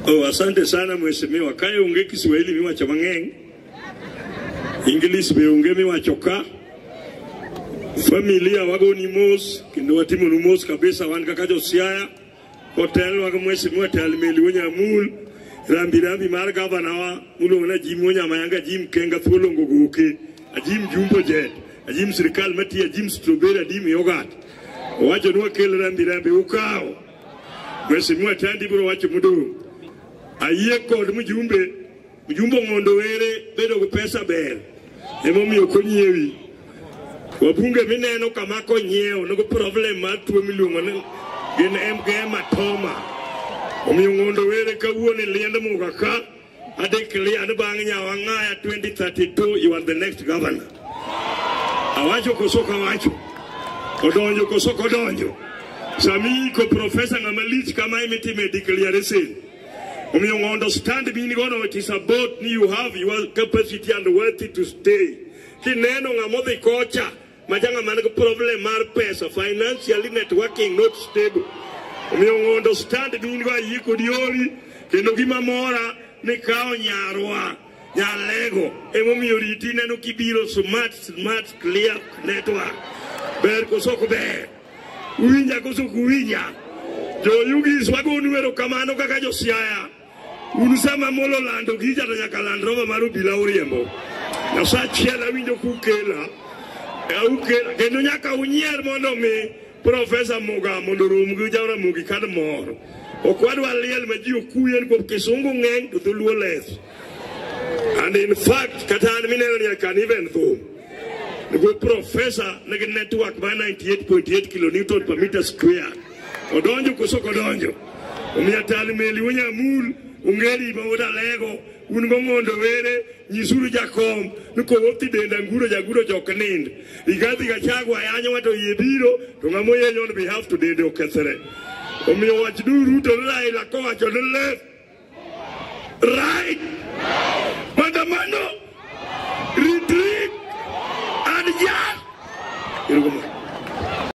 Oh, asante sana mheshimiwa. Kae onge Kiswahili miwacho mang'eny. English be onge miwacho ka. Familia wagoni mos kendo watimonu mos kabisa wan kaka josiaya. Hotel wago mheshimiwa Talmeli Wonyamul. Rambi rambi mar gavana wa muluongo na Jim Wonyamayanga Jim Kenga Thuolongo Goke. Ajim Jumbo Jet. Ajim sirikal matiyo Ajim Strawberry Ajim Yogurt. Owacho ni wakel rambi rambi ukawo. Mheshimiwa Tandi biro wacho modong'. Ayie kod mjumbe, mjumbe mondo were bedo gi pesa ber. Emomiyo konyiewi. Wabunge mineno kama konyiewo nogo problem mar tuo miluongo ni gin emgema toma. Omiyo ng'ondo were kawuono e liend muga ka I declare ni bang' Nyawang'aya 2032 you are the next governor. Awacho koso kawacho. Odonjo koso kodonjo. Sami ko professor ng'ama lich kama imitime declaration. Omiyo ng'o understand bini gono it is about ni you have your capacity and worthy to stay. Kineno ng'ama odhi kocha Majanga man gi problem mar pesa, financially networking not stable. Omiyo ngondo stand dun go ayie kod yori kendo gima mora ni kawo nyarwa nyalego emomiyo riti neno kibiro smart smart clear network ber koso ok ber uwinja koso ok uwinja joyugis wagonu erokamano kaka josiaya Un sama molo lando gija to nyaka land roba mar obila uriembo. Nyasaye achiel awinjo kukela. E ukela kendo nyaka unyier mondo mi Profesa Muga mondo orum gi Jaramogi kad moro. Ok wadwa liel ma ji okuyen kuom kisungu ng'eny to dholuo less. And in fact, kata an mineno ni I can even though. Nigo profesa nigi network ma 98.8 kilonewton per meter square. Odonjo koso ok odonjo? Omiyo tal meli wonyamul ungeri ma udalego un go mondo were nyisuru jakom ni kowopti denda nguro jaguro jok nind igadhi gachagwa yanyo wato yie biro to ng'ama oyenyo on behalf to dende okethre omiyo wach duru to ni Raila kowacho ni left right maandamano retreat and jazz Erokamano.